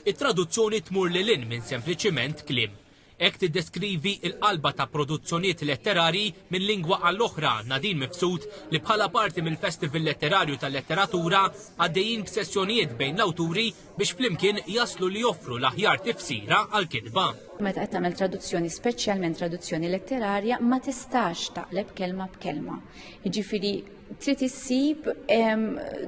It-traduzzjoni tmur lil hinn minn sempliċiment kliem. Hekk tiddeskrivi l-qalba ta' produzzjonijiet letterarji minn lingwa għal oħra Nadine Mifsud li bħala parti mill-Festival Letterarju tal-Letteratura għaddejjin b'sessjonijiet bejn l-awturi biex flimkien jaslu li joffru l-aħjar tifsira għall-kitba. Meta qed tagħmel traduzzjoni, speċjalment traduzzjoni letterarja, ma tistax taqleb kelma b'kelma. Jiġifieri trid issib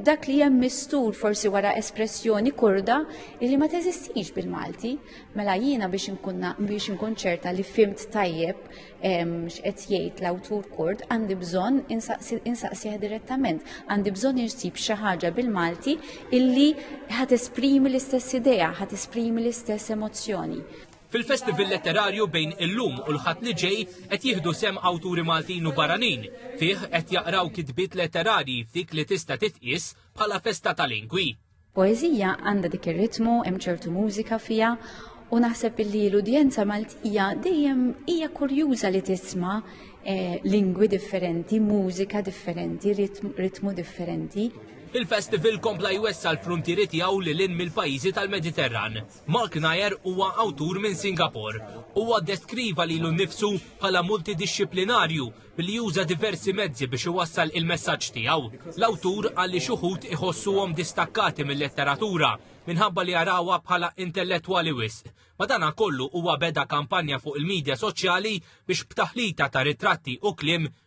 dak li hemm mistur forsi wara espressjoni kurda li ma teżistix bil-Malti. Mela jiena biex inkunna biex inkun ċerta li fimt tajjeb x'qed jgħid l-awtur kurd għandi bżonn insaqsih direttament. Għandi bżonn insib xi ħaġa bil-Malti illi ħad esprimi l-istess idea, ħad esprimi l-istess emozzjoni. Fil-festival letterarju bejn illum u l-Ħadd li ġej qed jieħdu sehem awturi Maltin u barranin. Fih qed jaqraw kitbiet letterarji f'dik li tista' titqies bħala festa ta' lingwi. Poeżija għandha dik ir-ritmu, hemm ċertu mużika fiha u naħseb illi l-udjenza Maltija dejjem hija kurjuża li tisma' eh, lingwi differenti, mużika differenti, ritmu differenti. Il-festival kompla jwessa l-frontieri tiegħu li lin mill-pajjiżi tal-Mediterran. Mark Nair huwa awtur minn Singapore. Huwa ddeskriva lilu nnifsu bħala multidixxiplinarju billi juża diversi mezzi biex iwassal il-messaġġ tiegħu. L-awtur qal li xi wħud iħossuhom distakkati mil-letteratura minħabba li jarawha bħala intellettwali wisq. Madankollu huwa beda kampanja fuq il-midja soċjali biex b'taħlita ta' ritratti u kliem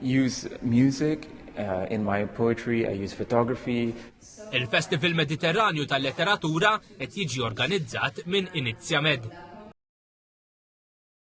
Use music uh, in my poetry, I use photography. Il-Festival Mediterranju tal-Letteratura qed jiġi organizzat minn Inizjamed.